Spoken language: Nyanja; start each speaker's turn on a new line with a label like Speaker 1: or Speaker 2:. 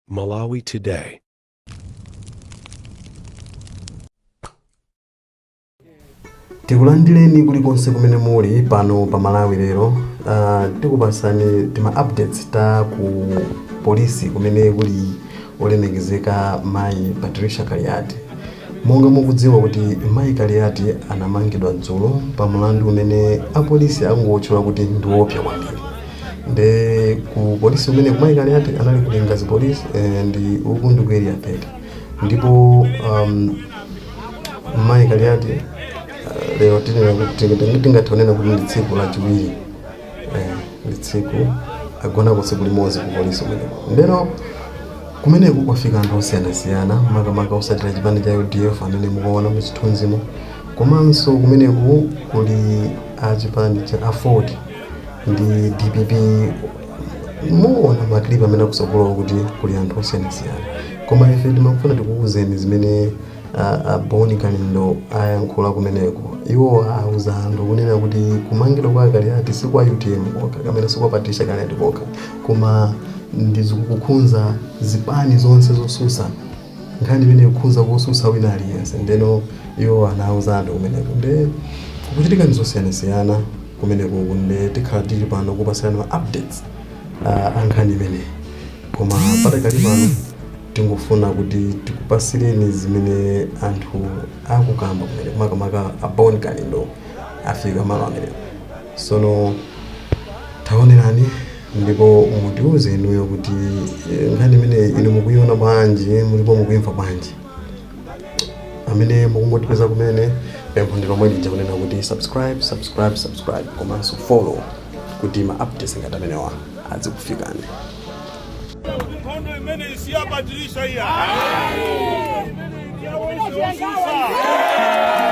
Speaker 1: Malawi
Speaker 2: Today. tikulandireni kulikonse kumene muli pano pa malawi lero uh, tikupatsani tima updates ta ku polisi kumene kuli Olemekezeka mayi Patricia Kaliati. Monga mukudziwa kuti mayi Kaliati anamangidwa dzulo pa mlandu umene apolisi angowutchula kuti ndi woopsa kwambiri. Nde ku polisi kumeneko mayi Kaliati anali ku Lingadzi police and uku ndi ku Area 18. Ndipo umm mayi Kaliati lero tingathe kunena kuti ndi tsiku lachiwiri. ndi tsiku agonako tsiku limodzi ku polisi kumeneko ndeno kumeneko kwafika anthu osiyanasiyana makamaka osatira chipani cha udf amene mukuona muzithunzimo komanso kumeneko kuli achipani cha aford ndi dpp muona maklipu amene akusogolowa kuti kuli anthu osiyanasiyana koma ife timafuna tikuwuzeni zimene A, a Bon Kalindo ayankhula kumeneko. Iwo auza anthu kunena kuti kumangidwa kwa Kaliati si kwa utm kokha kapena si kwa Patricia Kaliati kokha koma ndi zikukhunza zipani zonse zosusa nkhani imene ikukhunza kosusa wina aliyense ndeno iwo anauza anthu kumeneko nde kukuchitika zosiyanasiyana kumeneko nde tikhala tili pano kupasirana ma updates uh, a nkhani imeneyi Koma padakali pano tingofuna kuti tikupasileni zimene anthu akukamba kumeneko makamaka a Bon Kalindo afika malo amenewa tsono taonerani ndipo mutiuze inuyo kuti eh, nkhani imene inu mukuiona bwanji ndipo mukuimva bwanji amene mukungotipeza kumene pempho ndi lomwe lija kunena kuti subscribe subscribe subscribe komanso follow kuti ma updates ngati amenewa azikufikani
Speaker 3: Mkondo imene si hapa dirisha hii. Ya mwisho wa sasa.